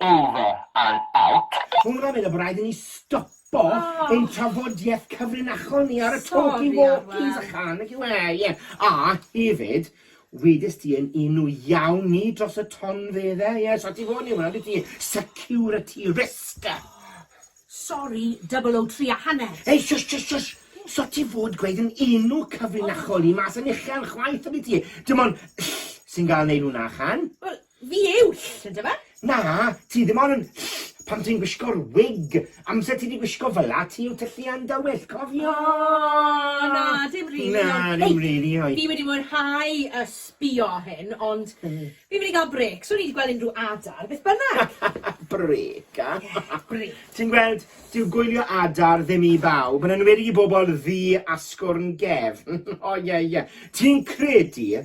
Over and out. Cwmra fe na fo raid i ni stopo ein trafodieth cyfrinachol ni ar y talkie walkies a chan y cyw e ie a hefyd wedys ti yn un nhw iawn ni dros y ton fe dde ie so ti fod ni wna dwyt ti security risk Sori double o tri a hanner. Ei shush shush shush so ti fod gweud yn un nhw cyfrinachol ni mas yn uchel chwaith yndwyt ti dim ond ll sy'n gael neud hwnna chan Wel Fi yw ll, yndyfe? Na, ti ddim ond yn ll pan ti'n gwisgo'r wig. Amser ti 'di gwisgo fel'a, ti yw tylluan dywyll, cofio! O! Na, dim rili, ond... Na, dim rili, oi. Fi wedi mwynhau yy sbio hyn, ond fi'n mynd i gael brêc. Swn i 'di gweld unrhyw adar, beth bynnag! Brêc, a? Ie, brêc. Ti'n gweld, dyw gwylio adar ddim i bawb, yn enwedig i bobl ddu asgwrn gefn. O, ie, ie. Ti'n credu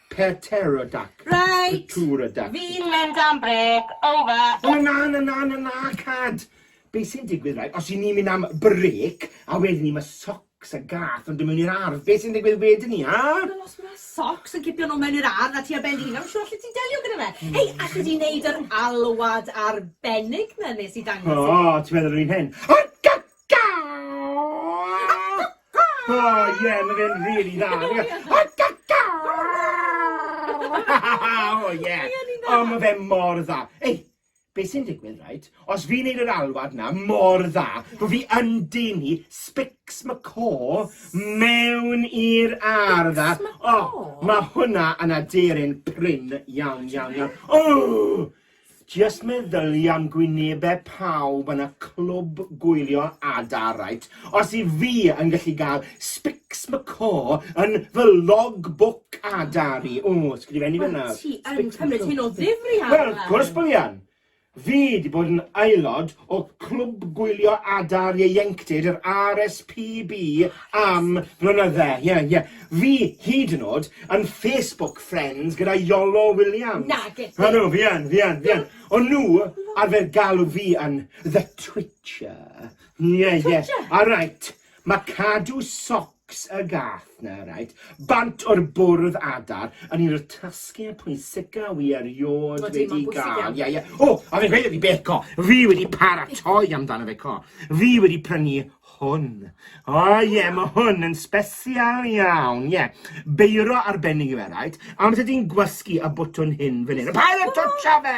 Pterodac. Reit! Pterodac. Fi'n mynd am brêc, over. O na, na, na, na, na, cad! Be sy'n digwydd, right, os i ni'n mynd am brêc, a wedyn ni, mae soc socks a gath yn dod mewn i'r ardd. Be sy'n digwydd wedyn ni, a? Wel, os mae socks yn cipio nhw mewn i'r ardd a ti ar ben dy hun, I'm sure allet ti'n delio gyda fe. Hmm. Hei, allet ti'n neud yr alwad arbennig na nes i dangos i? O, ti'n meddwl yr un hyn? O, Oh yeah, mae fe'n really dda. Oh yeah. Oh, mae fe mor dda. Ei, be sy'n digwydd, right? Os fi'n neud yr alwad na mor dda, bod fi yn denu Spix McCaw mewn i'r ardd. Oh, mae hwnna yn aderyn prin iawn, iawn, iawn. Oh! Jyst meddylia am gwynebe pawb yn y clwb gwylio adar right os i fi yn gallu ga'l spics macaw yn fy log book adar i o sgrifennu fe nawr. Wel ti yn cymryd hyn o ddifri adar. Wel wrth gwrs bo fi yn! Fi di bod yn aelod o Clwb Gwylio Adar Ieuenctid yr RSPB am flynydde. Ie, ie. Fi, hyd yn o'd, yn Facebook friends gyda Iolo Williams. Nage ti! Ydw, fi yn, fi yn, fi yn. O'n nhw arfer galw fi yn The Twitcher. Ie, ie. Twitcher? Alright. Mae cadw socs y gath 'na, reit, bant o'r bwrdd adar yn un o'r tasgiau pwysica wi erioed Odi, wedi mae'n bwysig iawn. Ie, ie. O, a fi'n gweud wrth i Beth co, fi wedi paratoi amdano fe co. Fi wedi prynu hwn. O ie, mae hwn yn sbesial iawn, ie. Beiro arbennig yw e, reit? Amser ti'n gwasgu y bwtwn hyn fan hyn. Paid a twtsio fe!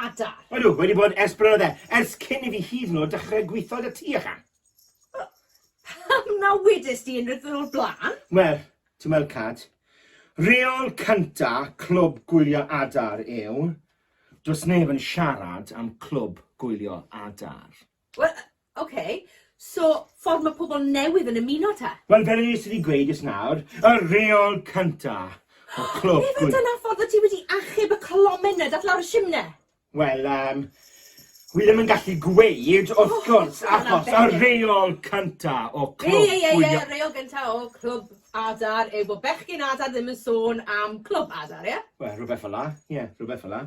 Adar. Ydw, wedi bod ers blynydde, ers cyn i fi hyd yn oed dechrau gweithio da ti, ychan. Pam na wedys di unrhyw ddyn o'r blaen? Wel, ti'n weld Cad, reol cynta clwb gwylio adar yw, does neb yn siarad am clwb gwylio adar. Wel, Ok, so ffordd mae pobl newydd yn ymuno te? Wel, fel nes i di gweud jyst nawr, y reol cynta o clwb gwi-... Ife dyna ffordd wyt ti wedi achub y colomen na dath lawr y shimne? Wel, yym, wi ddim yn gallu gweud, wrth gwrs, achos y reol cynta o clwb gwi-... Ie, ie, ie, y reol gynta o clwb adar yw bod bechgyn adar ddim yn sôn am clwb adar, ie? Wel, rhywbeth fel'a, ie, rhywbeth fel'a.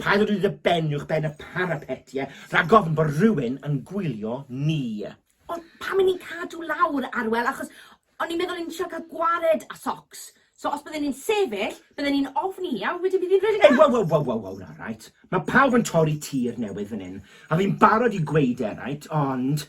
Paid â dod i dy ben uwch ben y parapet, ie? Rhag ofn bod rhywun yn gwylio ni. Ond pam i ni'n cadw lawr, Arwel, achos o'n i'n meddwl o'n i'n trio cael gwared a socs. So os bydden ni'n sefyll, bydden ni'n ofni hi a wedyn bydd hi'n rhedeg Ei, waw, waw, waw, waw, waw, na, right. Mae pawb yn torri tir newydd fan hyn, a fi'n barod i gweud e, right, ond...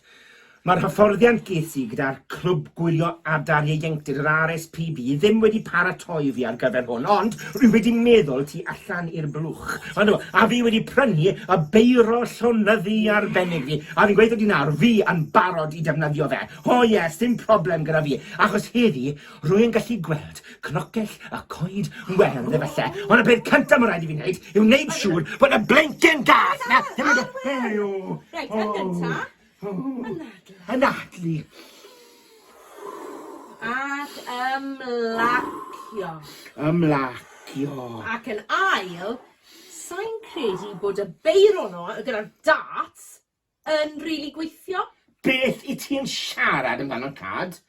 Mae'r hyfforddiant ges i gyda'r Clwb Gwylio Adar Ieuenctid yr RSPB ddim wedi paratoi fi ar gyfer hwn, ond rwy wedi meddwl tu allan i'r blwch. Ond o, a fi wedi prynu y beiro llonyddu arbennig fi, a fi'n gweithio di nawr, fi yn barod i defnyddio fe. O ie, sdim problem gyda fi, achos heddi rwy yn gallu gweld cnocell y coed werdd efallai, ond y peth cyntaf mae'n rhaid i fi wneud yw wneud siŵr bod y blinkin gath na ddim yn... Reit, yn gyntaf, Anadlu. Anadlu. Ac ymlacio. Ymlacio. Ac yn ail, sai'n credu bod y beiro 'no gyda'r darts yn rili gweithio. Beth 'yt ti'n siarad amdano, Cad?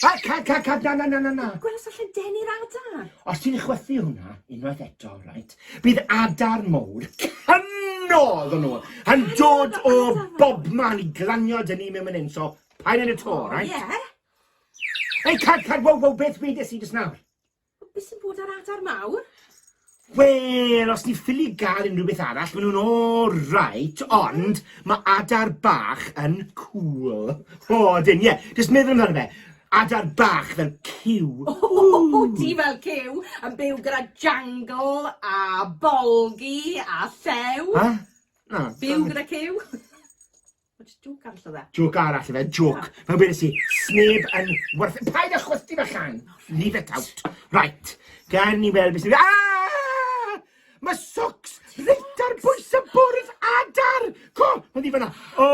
Cad, cad, cad, cad, na, na, na, na, na. Gwelwch allan deni'r adar. Os ti'n chwythu hwnna, unwaith eto, right, bydd adar mowr cynnodd o'n nhw, yn dod o bob man i glanio dyn ni mewn mynd so pa'n yn y to, right? Ie. Ei, cad, cad, wow, wow, beth fi dys i dys nawr? Be sy'n bod ar adar mawr? Wel, os ti'n ffili gael unrhyw beth arall, maen nhw'n alright, ond mae adar bach yn cool. O, dyn, ie, jyst meddwl amdano fe. Adar bach fel cyw. O, oh, ti fel cyw, yn byw gyda jangle a bolgi a llew. Ha? Na. Byw gyda cyw. What's joke arall oedd e? Joke arall oedd e, joke. Ah. Fel bedes i, sneb yn worth... Paid â chwythu fe llan! Leave it out. Right, gan ni weld beth sy'n... Ah! Mae socks reit ar bwys y bwrdd adar! Co! Mae ddi fanna. O,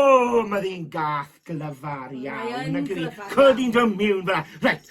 mae ddi'n gath glyfar iawn. Mae yn glyfar. Cod i'n dod miwn fanna. Right,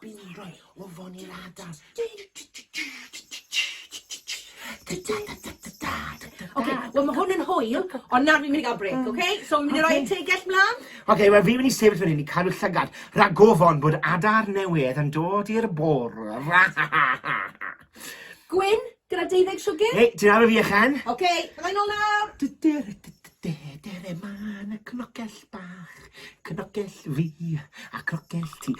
Bindroi o fon i'r adar. Ok, wel mae hwn yn hwyl, ond nawr fi'n mynd i gael break, ok? So fi'n mynd i roi y tegell mlaen. Ok, wel fi'n mynd i sefyll fan hyn i cadw llygad, rhag gofon bod adar newydd yn dod i'r bwrdd. Gwyn, Gyda deuddeg siwgr? Hei, ti'n aru fi a Chen? Ok, byddai nôl nawr! Dere man y cnocell bach, cnocell fi a cnocell ti.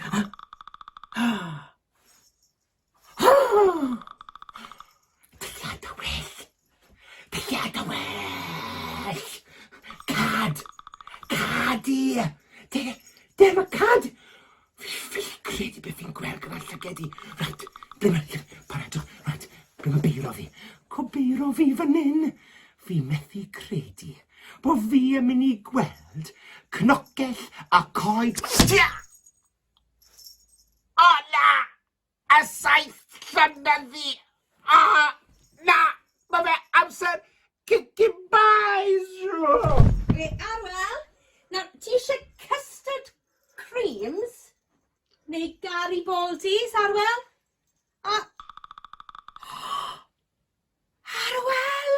Dylliad y well! Dylliad y well! Cad! Cad i! Dere, dere, mae cad! Fi ffili credu beth fi'n gweld gyda'r llyged i. Reit, dyna lle, paratwch, reit, rwy'n yn beiro fi. Cobeiro fi fan hyn! Fi methu credu bo fi yn mynd i gweld cnocell a coed... Stia! O na! A saith llynedd fi. Ah, na, mae fe amser kicking buys! Be arwel? Nawr, ti eisiau custard creams neu Garibaldi's, Arwel? A... Arwel!